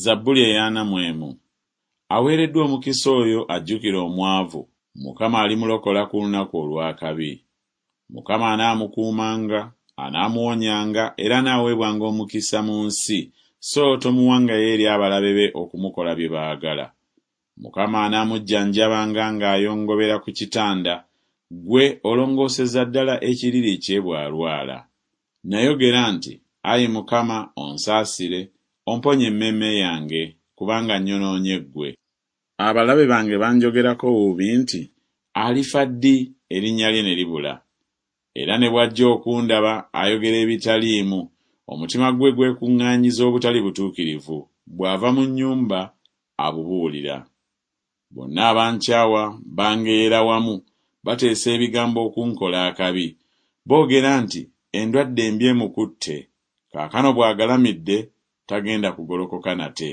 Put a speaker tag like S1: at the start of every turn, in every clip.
S1: Zabbuli ey'ana mu emu. Aweereddwa omukisa oyo ajjukira omwavu, Mukama alimulokola ku lunaku olw'akabi. Mukama anaamukuumanga, anaamuwonyanga, era anaaweebwanga omukisa mu nsi, so tomuwangayo eri abalabe be okumukola bye baagala. Mukama anaamujjanjabanga ng'ayongobera ku kitanda, ggwe olongooseza ddala ekiriri kye bw'alwala. Nnayogera nti, Ayi Mukama, onsaasire, omponye emmeeme yange, kubanga nnyonoonye ggwe. Abalabe bange banjogerako bubi nti, Alifa ddi, erinnya lye ne libula? Era ne bw'ajja okundaba, ayogera ebitaliimu, omutima gwe gwekuŋŋaanyiza obutali butuukirivu, bw'ava mu nnyumba, abubuulira. Bonna abankyawa bangeyeera wamu, bateesa ebigambo okunkola akabi. Boogera nti, Endwadde embi emukutte. Kaakano bw'agalamidde, tagenda kugolokoka nate.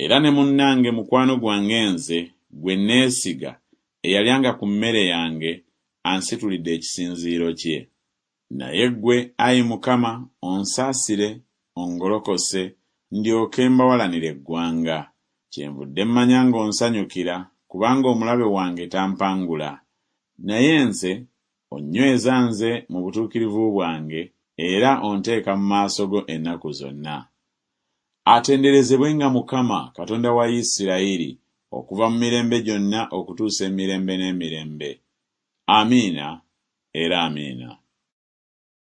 S1: Era ne munnange mukwano gwange nze, gwe nneesiga, eyalyanga ku mmere yange, ansitulidde ekisinziiro kye. Naye ggwe, ayi Mukama, onsaasire, ongolokose, ndyoke mbawalanire eggwanga. Kyenvudde mmanya ng'onsanyukira, kubanga omulabe wange tampangula. Naye nze, onnyweza nze mu butuukirivu bwange, era onteeka mu maaso go ennaku zonna. Atenderezebwenga Mukama, Katonda wa Isirayiri, okuva mu mirembe gyonna okutuusa emirembe n'emirembe. Amiina era Amiina.